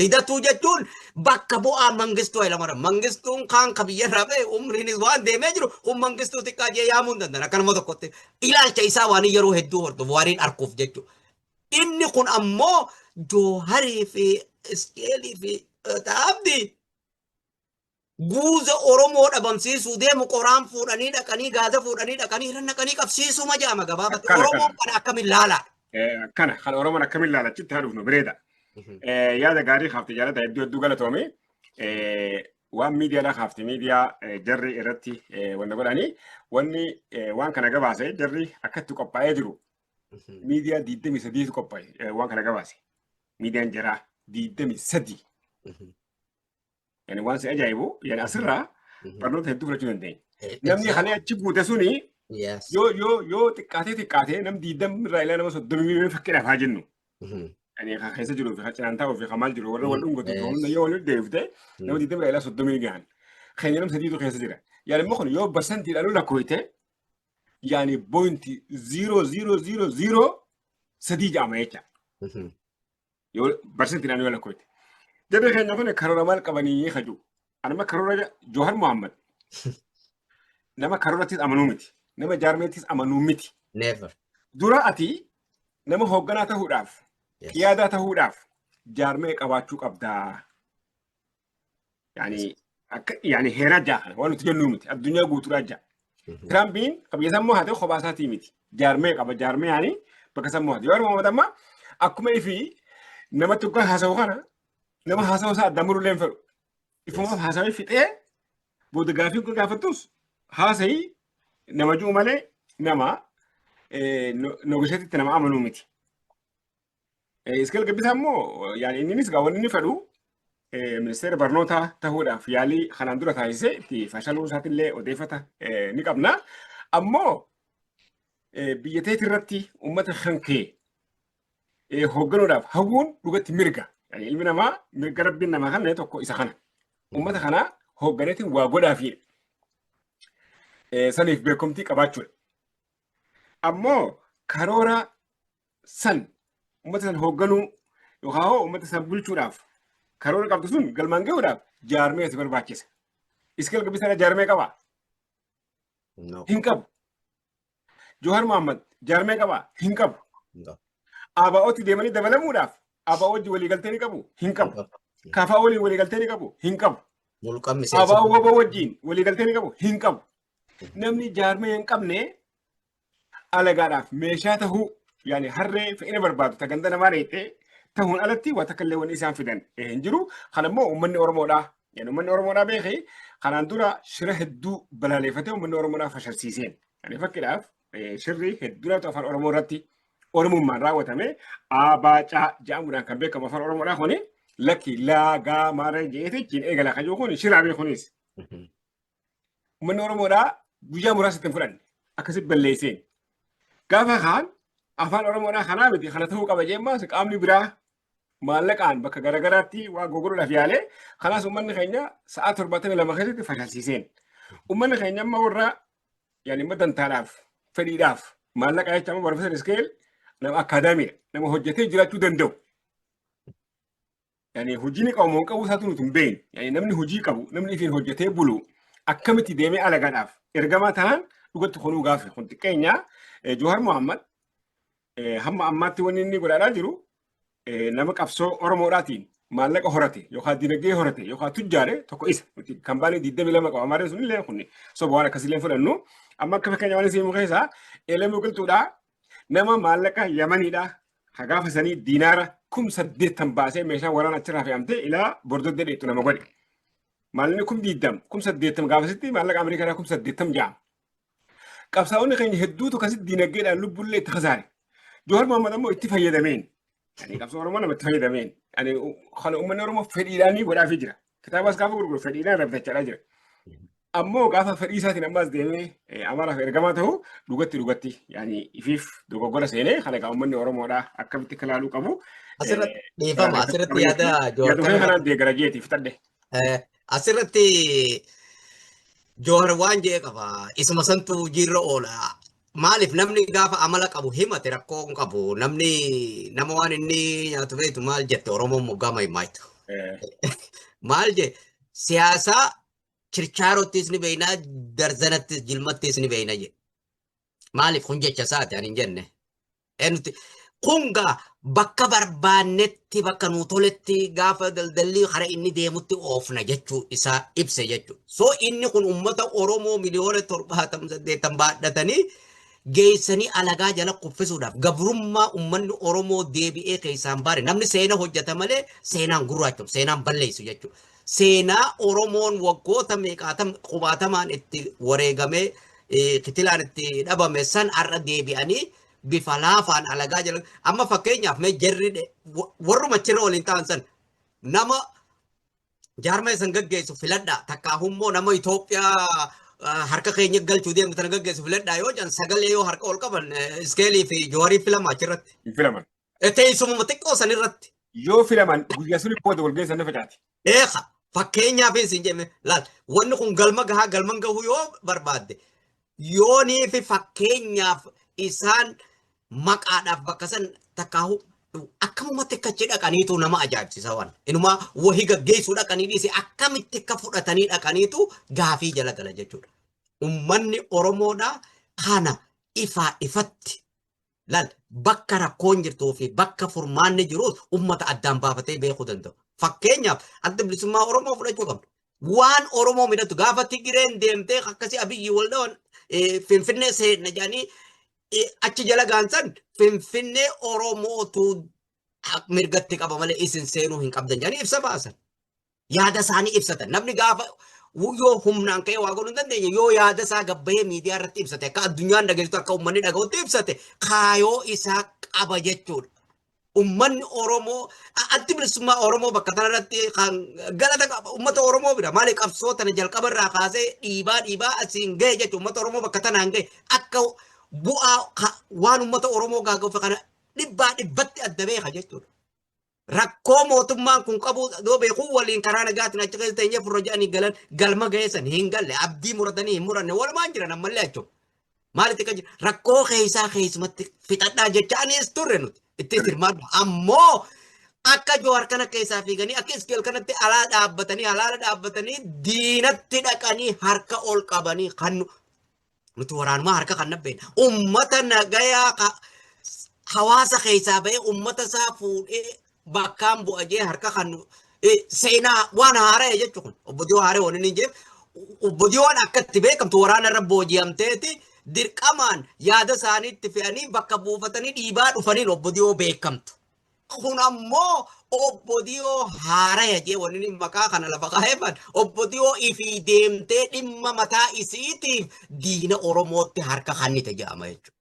S2: Lidatuu jechuun bakka bu'aa Mangistuu Hayilamaram. Mangistuun kaan ka biyyarraa ba'e umriinis waan deemee jiru kun Mangistuu xiqqaa jee yaamuu hin danda'an akka nama tokkotti. Ilaalcha isaa waan yeroo hedduu hordofu waaniin arkuuf jechuudha. Inni kun ammoo Jooharii fi Iskeelii fi Abdii Guuza Oromoo dhabamsiisuu deemu qoraan fuudhanii dhaqanii gaaza fuudhanii dhaqanii irra naqanii qabsiisuma jedhama gabaabatti. Akkana, Oromoon kana akkamiin laalaa? Eh, Akkana kan
S1: Oromoon akkamiin laala achitti haa dhufnu bireeda. Eh, Yaada gaarii kaafte jaalata hedduu hedduu galatoome. Eh, Waan miidiyaadhaa kaafte miidiyaa eh, jarri irratti eh, wanna godhanii wanni eh, waan kana gabaase jarri akkatti qophaa'ee jiru miidiyaa 23 qophaa'e eh, waan kana gabaase. Miidiyaan jaraa 23. Yani waan si ajaa'ibu yani asirraa Mhm. barnoota hedduu fudhachuu dandeenya. Eh, Namni exact. kana achi guute suni Yes. yoo yoo yoo xiqqaatee xiqqaatee nam diidam irraa ilaa nama soddomii miliyoona fakkeenyaaf haa jennu. Mhm. Yani kan keessa jiruu fi kan cinaan taa'uu fi kan maal jiru warra wal dhungatu fi hunda yoo walitti deebifte nama Mm. diidam irraa ilaa soddomii ni gahan. Keenya nam sadiitu keessa jira. Yani immoo kun yoo barsantiidhaan ol lakkoofte yani bointi ziiroo ziiroo ziiroo ziiroo sadii ja'ama jecha. Mhm. Yoo barsiisti naannoo yoo lakkoofte. Jarri keenya kun karoora maal qabanii kaju. Anuma karoora Joohar Muhammad. Nama karoorattis amanuu miti. Nama jaarmeettis amanuu miti. Never.
S2: Dura ati
S1: nama hoogganaa ta'uudhaaf, Yes. qiyaadaa ta'uudhaaf jaarmee qabaachuu qabdaa. Yaani akka yaani heeraa ja'a kana waan nuti jennuu miti addunyaa guutuudhaa ja'a. Tiraampiin qabiyya sammuu haa ta'u kophaa isaatii miti. Jaarmee qaba jaarmee yaani bakka sammuu haa ta'u. Yoo argamu amma akkuma ifi nama tokko haasa'u kana nama haasa'u isaa adda muruu leen fedhu. Ifumaaf haasa'ee fixee booda gaafii kun gaafattus haasa'ii nama jiru malee nama nogisheetitti nama amanuu miti. Iskeel Gabbisaa immoo yaani inninis gaa wanni inni fedhu ministeera barnootaa ta'uudhaaf yaalii kanaan dura taasisee itti fashaluu isaatiillee odeeffata ni qabna. Ammoo biyya teetii irratti uummata kan kee hoogganuudhaaf hawwuun dhugatti mirga. Ilmi namaa mirga rabbiin namaa kan tokko isa kana. Uummata kanaa hoogganeetiin waa godhaafiidha. Saniif beekumtii qabaachuudha. Ammoo karoora san uummata san hoogganuu yookaan hoo uummata san bulchuudhaaf karoora qabdu sun galmaan gahuudhaaf jaarmee si barbaachisa. Iskeel Gabbisaa jaarmee qabaa? No. Hin qabu. Jawhar Mohaammed jaarmee qabaa? Hin qabu. No. ABO'tti deemanii dabalamuudhaaf ABO wajji waliigaltee ni qabu? Hin qabu. Kafaa waliin waliigaltee ni qabu? Hin qabu. Mulqaan miseensa. ABO waboo wajjin waliigaltee ni qabu? Hin qabu. Namni jaarmee hin qabne alagaadhaaf meeshaa tahuu yaani harree fe'ina barbaadu ta ganda namaa dheettee tahuun alatti waa takka illee wanni isaan fidan eh, hin jiru. Kana immoo uummanni Oromoodhaa yaani uummanni Oromoodhaa beeke kanaan dura shira hedduu balaaleeffatee uummanni Oromoodhaa fashalsiiseen. Yaani fakkiidhaaf eh, shirri hedduudhaatu afaan Oromoo irratti Oromummaan raawwatame abaacaa jedhamuudhaan kan beekamu afaan Oromoodhaa kuni lakki laagaa maara jeetichiin eegala kan jiru kun shiraa beekunis. Uummanni Oromoodhaa guyyaa muraasa itti hin fudhanne. Akkasitti balleesseen. Gaafa kaan afaan Oromoodhaa kanaa miti kana ta'uu qaba jemmaa qaamni biraa maallaqaan bakka garaagaraatti waa gurguruudhaaf yaalee kanaas uummanni keenya sa'aa torbaatamii lama keessatti fashalsiiseen. Uummanni keenya amma warra yaani immoo dantaadhaaf fedhiidhaaf maallaqa jecha amma barbaachisaan iskeel nama akaadaamiidha nama hojjetee jiraachuu danda'u. yani hojii ni qabu moo hin qabu isaatu nuti hin beekne yani namni hojii qabu namni ifiin hojjetee bulu akkamitti deemee alagaadhaaf ergamaa tahan dhugatti kunuu gaafi kun xiqqeenya Eh, Jawhar Muhammad eh, hamma ammaatti wanni inni godhaadhaa jiru eh, nama qabsoo Oromoodhaatiin maallaqa horate yookaan dinagdee horate yookaan tujjaare tokko isa nuti kan baanee 22 qaba amaarree sunillee kun soba waan akkasiillee hin fudhannu amma akka fakkeenya waan isin mukeessa eelamuu qilxuudhaa Nama maallaqa Yamaniidhaa ka gaafa sanii diinaara kum saddeettan baasee meeshaa waraana achirraa fe'amtee ilaa bordoddee dheettu nama godhe. Maallaqni kum diiddam kum saddeettam gaafasitti maallaqa Ameerikaadhaa kum saddeettam ja'a. Qabsaa'onni keenya hedduutu akkasitti diinagdeedhaan lubbullee itti kasaare. Jawar Mohaammed ammoo itti fayyadameen Ani qabsoo Oromoo namatti fayyadameen. Ani kan uummanni Oromoo fedhiidhaan ni godhaafii jira. Kitaabas gaafa gurguru fedhiidhaan rabbitachaa jira. Ammoo gaafa fedhii isaatiin ammas deemee Amaaraaf ergamaa ta'u dhugatti dhugatti yaani ifiif dogoggora seenee kan egaa uummanni Oromoodhaa akkamitti akka ilaaluu qabu. Asirratti
S2: dhiifama asirratti yaada Joorkana. Yaadumee kanaan deegara
S1: jeeti fitadhe. Asirratti
S2: Joor waan jee qaba. Isuma santu jiirra oola. Maaliif namni gaafa amala qabu himate rakkoo hin qabu. Namni nama waan inni nyaatu beektu maal jette Oromoon moggaama himaaytu. Maal je siyaasaa chirchaarottis ni beeknaa darzanattis jilmattis ni beekna je. Maaliif kun jecha isaati ani hin jenne. Nuti kun gaa bakka barbaannetti bakka nuu toletti gaafa daldalli hara inni deemutti oofna jechuu isaa ibse jechuudha. So inni kun uummata Oromoo miliyoona torbaatam saddeettan baadhatanii geessanii alagaa jala kuffisuudhaaf gabrummaa uummanni Oromoo deebi'ee keessaan baare namni seena hojjeta malee seenaan gurraachom seenaan balleessu jechuudha. Seenaa Oromoon waggoota meeqaatam qubaatamaan itti wareegamee eh, kitilaan itti dhabame san har'a deebi'anii bifa laafaan alagaa jala amma fakkeenyaaf mee jarri dhe- wa- warruma achirra waliin ta'an san nama jaarmee san gaggeessu filadhaa takkaa immoo nama Itoophiyaa ah, harka keenya galchuu deemu tana gaggeessu filadhaa yoo jedhan sagalee yoo harka ol qaban eh, iskeelii fi jooharii filama achirratti. Hin filaman.
S1: Teessumuma xiqqoo
S2: san irratti. Yoo filaman
S1: guyyaa sun booda walgahii sana facaati. Eeka fakkeenyaaf
S2: isin jenne laal wanni kun galma gahaa galman gahuu yoo barbaadde yoonii fi fakkeenyaaf isaan maqaadhaaf bakka san takkaahu akkamumatti akka achi dhaqaniitu nama ajaa'ibsiisa waan inumaa wahii gaggeessuu dhaqanii dhiise akkamitti akka fudhatanii dhaqaniitu gaafii jala gala jechuudha. Ummanni Oromoodhaa kana ifaa ifatti Lal bakka rakkoon jirtuu fi bakka furmaanni jiruus uummata addaan baafatee beekuu danda'u. Fakkeenyaaf adda bilisummaa Oromoo fudhachuu qabna. Waan Oromoo midhatu gaafa Tigireen deemtee akkasii abiyyi wal dhawan Finfinnee seenna jedhanii achi jala gaansan Finfinnee Oromootu mirgatti qaba malee isin seenuu hin qabdan jedhanii ibsa baasan. yaada isaanii ibsatan. Namni gaafa yoo humnaan ka'ee waa godhuu hin dandeenye yoo yaada isaa gabbahee miidiyaa irratti ibsate akka addunyaan dhageessitu akka uummanni dhaga'utti ibsate kaayoo isaa qaba jechuudha. Uummanni Oromoo addi bilisummaa Oromoo bakka kanarratti kan galata qaba uummata Oromoo bira maali qabsoo tana jalqaba irraa kaasee dhiibaa dhiibaa asiin ga'e jechuudha uummata Oromoo bakka tanaan ga'e akka bu'aa waan uummata Oromoo gaaga'uuf kana dhibbaa dhibbatti adda beeka jechuudha. rakkoo mootummaan kun qabu yoo beeku waliin karaa nagaatiin achi keessa teenyee furra jedhanii galan galma geessan hin galle abdii muratanii hin muranne walumaan jiran ammallee achuu. Maalitti kan jiru rakkoo keessaa keessumatti fixadhaa jecha anis turre nuti itti hirmaadha. Ammoo akka Jowaar kana keessaa fiiganii akka Iskeel kanatti alaa dhaabbatanii alaala dhaabbatanii diinatti dhaqanii harka ol qabanii kan Nuti waraanumaa harka kan nabbeen ummata nagayaa ka- hawaasa keessaa ba'ee ummata isaa fuudhee bakkaan bu'a jee harka kan nu- eh, seenaa waan haara'e jechuun kun obbo Diyoo haara'e waan inni jeef obbo Diyoon akka itti beekamtu waraana irra booji'amteeti dirqamaan yaada isaanii itti fe'anii bakka buufatanii dhiibaa dhufaniin obbo Diyoo beekamtu. Kun ammoo obbo Diyoo haaraya jee wanni maqaa kana lafa kaa'eefan obbo Diyoo ifii deemtee dhimma mataa isiitiif diina Oromootti harka kannite jedhama jechuudha.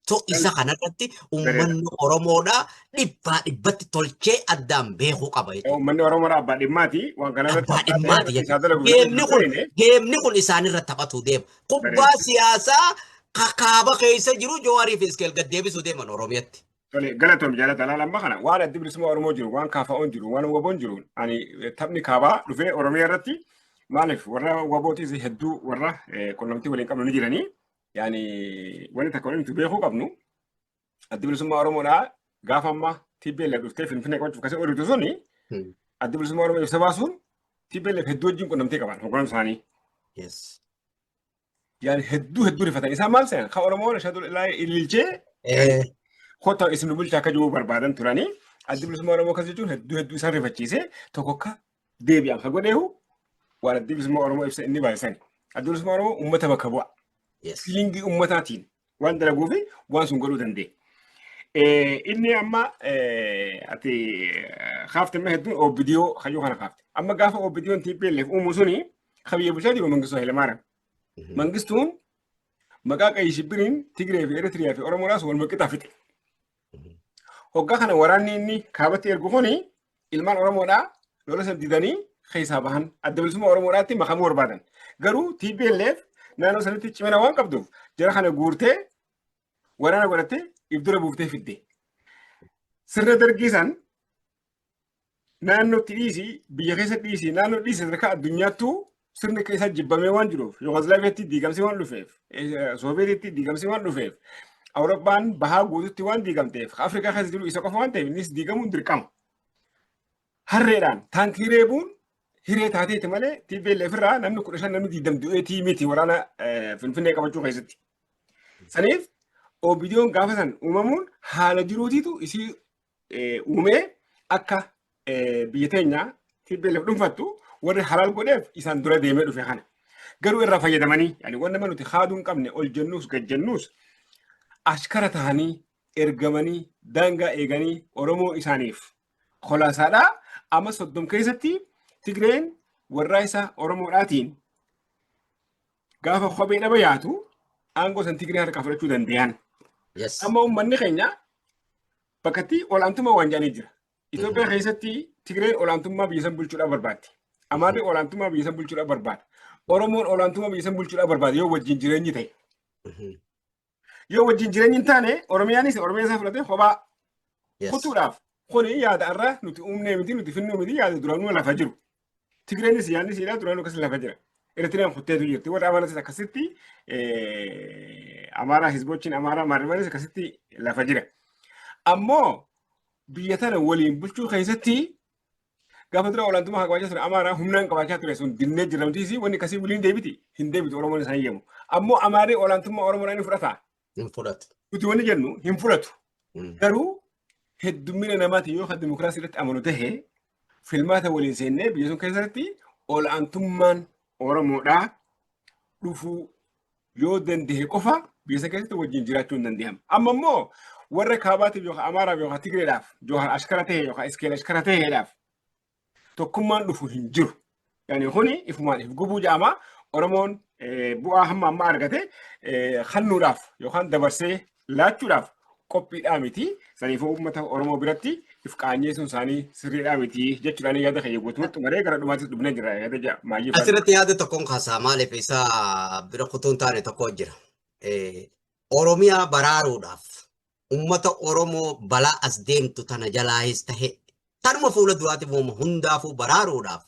S2: So isa kanarratti uummanni Oromoodha dhibbaa dhibbatti tolchee addaan beekuu qaba jechuudha. Uummanni Oromoo abbaa
S1: dhimmaati waan kanarratti Abbaa dhimmaati jechuudha.
S2: Geemni kun geemni kun isaanirra taphatu deema. Kubbaa siyaasaa kakaaba keessa jiru Jawaariif Iskeel gad deebisuu deeman Oromiyatti. Tole galatoom jaalata
S1: laala amma kana waan addi bilisummaa Oromoo jiru waan kaafa'oon jiru waan waboon jiru ani taphni kaabaa dhufee Oromiyaa irratti maaliif warra wabootis hedduu warra qunnamtii waliin qabnu ni jiranii yaani wanti takka waliin beekuu qabnu addi bilisummaa Oromoodhaa gaafa amma TPLF dhuftee Finfinnee qabachuuf kasee oduutu suni addi bilisummaa Oromoo ibsa baasuun TPLF hedduu wajjin qunnamtii qaban hoogganaan isaanii. yani hedduu hedduu rifatan isaan maal seena ka oromoon ashadu laa ililchee Eh, kota isin nu bulchaa akka jiru barbaadan turanii addi bilisummaa oromoo akkas jechuun hedduu hedduu isaan rifachiise tokko akka deebi'an ka godheehu waan addi bilisummaa oromoo ibsa inni baay'isan addi bilisummaa oromoo uummata bakka bu'a yes. fiilingii uummataatiin Waan dalaguu fi waan sun godhuu danda'e. Inni amma ati kaafte amma hedduun OBDO kayyoo kana kaafte. Amma gaafa OBDOn TPLF uumu suni kabiyyee bulchaa jiru Mangistuu Hayilamaariyaam. Mangistuun maqaa qayyii shibbiriin Tigree fi Eritiriyaa fi Oromoodhaas wal maqitaa fixe. Hoggaa kana waraanni inni kaabatti ergu kun ilmaan Oromoodhaa lola san didanii keessaa bahan adda bilisummaa Oromoodhaatti makamuu barbaadan. Garuu TPLF naannoo sanatti cimina waan qabduuf jara kana guurtee waraana godhattee ibdura buuftee fidde. Sirna dargii san naannootti dhiisi biyya keessa dhiisi naannoo dhiisi sadarkaa addunyaattuu sirni keessa jibbamee waan jiruuf Yugoslaaviyaatti diigamsi waan dhufeef Sooviyeetitti diigamsi waan dhufeef Awurooppaan bahaa guututti waan diigamteef Afrikaa keessa jiru isa qofa waan ta'eef innis diigamuun dirqama. Harreedhaan taankii reebuun hiree taateeti malee TPLF irraa namni kudha shan namni diidam du'eetii miti waraana Finfinnee qabachuu keessatti. Saniif OBDOn gaafa san uumamuun haala jiruutiitu isii uumee akka biyya teenya TPLF dhuunfattu warri halaal godheef isaan dura deemee dhufe kana. Garuu irraa fayyadamanii yani waan nama nuti haaduu hin qabne ol jennuus gad jennuus ashkara tahanii ergamanii daangaa eeganii Oromoo isaaniif kolaasaadhaa amma soddom keessatti Tigreen warraa isaa Oromoodhaatiin Gaafa kophee dhaba yaatu aangoo san Tigree harkaa fudhachuu danda'an. Yes. Amma uummanni keenya bakkatti olaantummaa waan jedhanii jira. Itoophiyaa keessatti Tigreen olaantummaa biyya san bulchuudhaaf barbaaddi. Amaarri olaantummaa biyya san bulchuudhaaf barbaada. Oromoon olaantummaa biyya san bulchuudhaaf barbaada yoo wajjin jireenyi ta'e. Mhm. Yoo wajjin jireenyi hin taane Oromiyaanis Oromiyaa isaa fudhatee kophaa Yes. kutuudhaaf kuni yaada irraa nuti uumnee miti nuti finnuu miti yaada duraanuu lafa jiru. Tigreenis yaadni siidhaa duraanuu akkasii lafa jira. Eritiriyaan kutteetu jirti. Warri Amaaratis akkasitti eh, Amaaraa Hizbochiin Amaaraa Maarimanis akkasitti lafa jira. Ammoo biyya tana waliin bulchuu keessatti Gaafa dura olaantummaa haa qabaachaa ture Amaaraa humnaan qabaachaa ture sun dinnee jira nuti isii wanni kasii waliin deebiti hin deebitu Oromoon isaan yemu. Ammoo Amaarri olaantummaa Oromoodhaan hin fudhata. Hin fudhatu.
S2: Nuti wanni jennu hin
S1: fudhatu. Mm. Garuu heddummina namaatiin yoo kan dimokiraasii irratti amanu tahe filmaata waliin seennee biyya sun keessatti olaantummaan Oromoodhaa dhufuu yoo danda'e qofa biyya sana keessatti wajjin jiraachuu hin danda'amu. Amma immoo warra kaabaatiif yookaan Amaaraaf yookaan Tigreedhaaf yookaan Ashkara ta'e yookaan Iskeel Ashkara ta'eedhaaf tokkummaan dhufu hin jiru. Yani kuni ifumaan if gubuu jedhama. Oromoon bu'aa hamma amma argate hannuudhaaf yookaan dabarsee laachuudhaaf qophiidhaa miti. Saniifuu uummata Oromoo biratti if qaanyeessuun isaanii sirriidhaa miti jechuudhaan yaada kiyya guutumatti maree gara dhumaattis dhufnee jira yaada ja'a maayyii faana. Asirratti yaada tokkoon
S2: kaasaa maaliif isa bira kutuun taane tokko jira. Oromiyaa baraaruudhaaf uummata Oromoo balaa as deemtu tana jalaahis tahe tanuma fuula duraatiif uummata hundaafuu baraaruudhaaf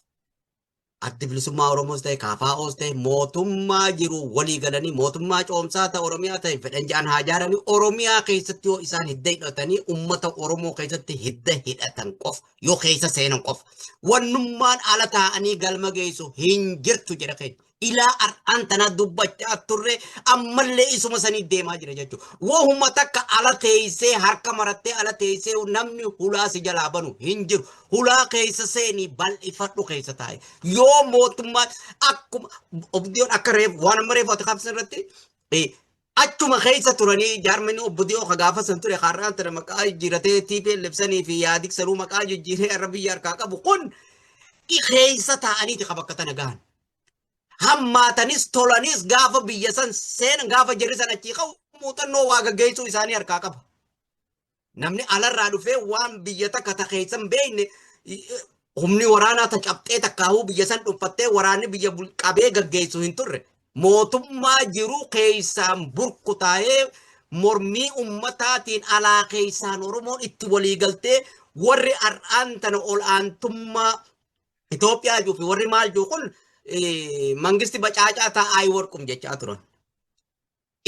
S2: Addi Bilisummaa Oromoos ta'e KFOs ta'e mootummaa jiru walii galanii mootummaa coomsaa ta'e Oromiyaa ta'e fedhan ja'an haa ijaaranii Oromiyaa keessatti yoo isaan hidda hidhatanii uummata Oromoo keessatti hidda hidhatan qofa yoo keessa seenan qofa wannummaan ala taa'anii galma geessu hin jirtu jedha keenya. Ilaa har'aan tanaa dubbachaa turre ammallee isuma sanii deemaa jira jechuudha. Wahuma takka ala teessee harka marattee ala teessee namni hulaa si jalaa banu hin jiru. hulaa keessa seenii bal'ifadhu keessa taa'e. Yoo mootummaan akkuma obdiyoon akka reef waan amma reefu ati qabsan irratti eh, achuma keessa turanii jaarmani obbo Diyoo ka gaafa san ture har'aan tana maqaa jijjiiratee TPLF sanii fi yaadik sanuu maqaa jijjiiree har'a biyya harkaa qabu kun i keessa taa'aniiti ka bakka tana gahan. Hammaatanis tolanis gaafa biyya san seenan gaafa jirri san achii ka'u muuxannoo waa gaggeessuu isaanii harkaa qaba. Namni alarraa dhufee waan biyya takka ta keessa hin beekne humni waraanaa ta cabxee takkaahuu biyya san dhuunfattee waraanni biyya qabee gaggeessu hin turre. Mootummaa jiru keessaan burkutaa'ee mormii ummataatiin alaa keessaan Oromoon itti waliigaltee warri har'aan tana ol aantummaa Itoophiyaa jiru fi warri maal jiru kun mangisti bacaacaa taa'aa warqum jechaa turan.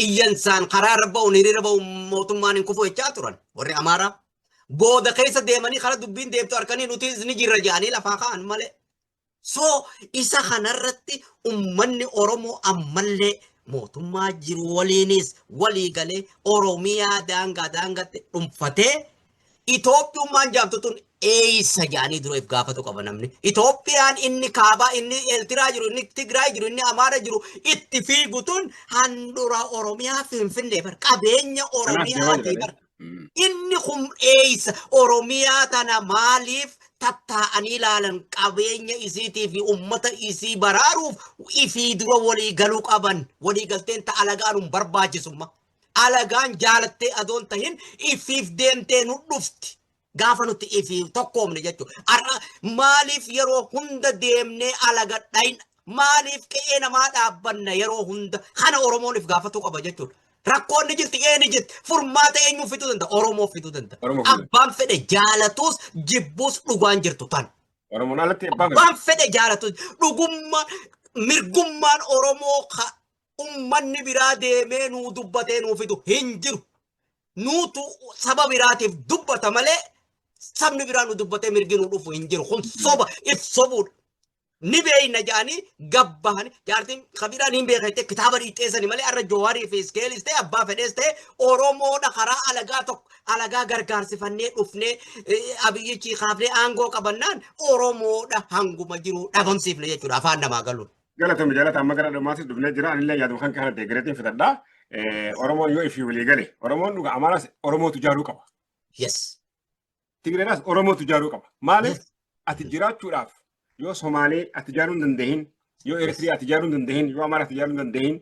S2: iyyansaan karaa irra ba'uun hiriira ba'uun mootummaan hin kufu jechaa turan warri Amaaraa. Booda keessa deemanii karaa dubbiin deemtu harkanii nuti ni jirra jedhanii lafaa ka'an malee. So isa kanarratti ummanni Oromoo ammallee mootummaa jiru waliinis walii galee Oromiyaa daangaa daangatti dhuunfatee Itoophiyummaan jaamtu tun eeysa jaanii dura if gaafatu qaba namni. Itoophiyaan inni kaabaa, inni Eeltiraa jiru, inni Tigraay jiru, inni Amaara jiru itti fiigu tun handhura Oromiyaa Finfinnee bar qabeenya Oromiyaa ti bar. Inni kun eeysa Oromiyaa tana maaliif tattaa'anii ilaalan qabeenya isiitii fi ummata isii baraaruuf ifii dura walii galuu qaban walii galteen ta alagaan hin barbaachisumma. Alagaan jaalattee adoo hin tahin ifiif deemtee nu dhufti. Gaafa nuti ifiif tokkoomne jechuudha. Har'a maaliif yeroo hunda deemnee alaga dhayna? Maaliif qe'ee namaa dhaabbanna yeroo hunda? Kana Oromoon if gaafatuu qaba jechuudha. Rakkoon ni jirti, ee ni jirti. Furmaata eenyuuf fiduu danda'a? Oromoof fiduu danda'a. Oromoof fiduu danda'a. Abbaan fedhe jaalatuus jibbuus dhugaan jirtu tan. Oromoon alatti abbaa
S1: fedhe. Waan fedhe jaalatu
S2: dhugummaa mirgummaan Oromoo ka ummanni biraa deemee nuu dubbatee nuu fidu hin jiru. Nuutu saba biraatiif dubbata malee sabni biraa nu dubbatee mirgi nu dhufu hin jiru. Kun soba if sobuudha. Ni beeyna jedhanii gabbahanii jaartiin kabiiraan hin beekne kitaaba dhiixeessani malee har'a Jawaarii fi Iskeelis ta'e abbaa fedhees ta'e Oromoodha karaa alagaa tokko alagaa gargaarsifannee dhufnee abiyyichi kaafnee aangoo qabannaan Oromoodha hanguma jiru dhabamsiifne jechuudha afaan namaa galuun. Galatoomi jaalata amma gara
S1: dhumaattis dhufnee jira anillee yaaduma kan kana deeggareetiin fitadha. Oromoon yoo ifii walii gale Oromoon dhuga Amaaraas Oromootu jaaruu qaba. Yes.
S2: Tigreedhaas
S1: Oromootu jaaruu qaba. Maaliif ati jiraachuudhaaf yoo Somaalee ati jaaruu hin dandeehin yoo Eritiriyaa ati jaaruu hin dandeehin yoo Amaaraa ati jaaruu hin dandeehin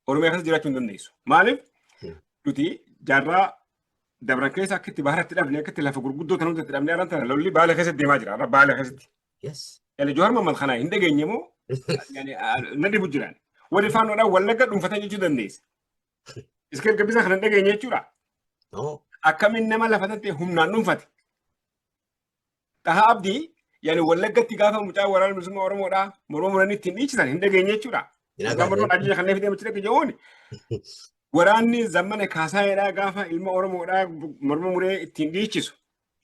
S1: Oromiyaa keessa jiraachuu hin dandeessu. Maaliif nuti jaarraa dabran keessa akka itti baharatti dhabne akka itti lafa gurguddoo kan hundatti dhabne araan tana lolli baala keessatti deemaa jira. Arra baala keessatti. Yes. Yaani
S2: Jawaar Mohammad kana
S1: hin dhageenye moo yaani ah, na dhibu jiraan. Warri faannoodhaan wallagga dhuunfatan jechuu dandeessa. Iskeel gabbisa kana hin dhageenye jechuudha. No. Akkamiin nama lafa tattee humnaan dhuunfate. Dhahaa abdii yaani wallaggatti gaafa mucaa waraana bilisummaa Oromoodhaa morma muranii ittiin dhiichisan hin dhageenye jechuudha. Hin Mucaa morma agarre. ajjeesan kanneen fidee mucaa jechuun waraanni zammana kaasaayedhaa gaafa ilma Oromoodhaa morma muree ittiin dhiichisu.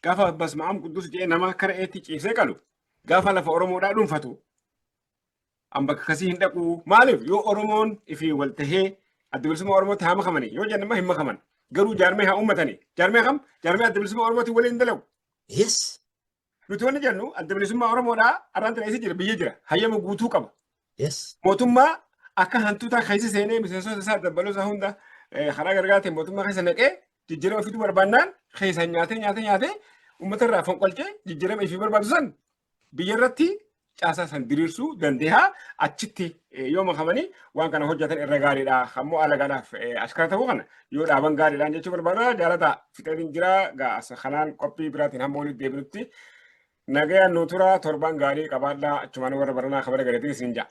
S1: Gaafa basma'am quddus jedhee nama akka re'eetti ciibsee qalu gaafa lafa Oromoodhaa dhuunfatu an bakka kasii hin dhaqu maaliif yoo Oromoon ifi wal tahee adda bilisummaa Oromootti haa makamani yoo jennama hin makaman garuu jaarmee haa uummatani jaarmee kam jaarmee adda bilisummaa Oromootti waliin dalagu Yes.
S2: nuti
S1: wanni jennu adda bilisummaa Oromoodhaa arraan tana isa jira biyya jira hayyama guutuu qaba Yes. mootummaa akka hantuutaa keessa seenee miseensota isaa dabbaloo isaa hunda eh, karaa gargaateen mootummaa keessa naqee jijjiirama fiduu barbaannaan keessaan nyaatee nyaatee nyaatee uummata irraa fonqolchee jijjiirama ifii barbaadu san biyya irratti caasaa san diriirsuu dandeeha achitti eh, yoo makamanii waan kana hojjetan irra gaariidha ammoo alagaadhaaf eh, askara ta'uu kana yoo dhaaban gaariidhaan jechuu barbaada jaalataa fixatiin jira gaa as kanaan qophii biraatiin hamma walitti deebinutti Nagayaan nu turaa torbaan gaarii qabaadhaa achumaan warra baranaa kabara galatiin isin ja'a.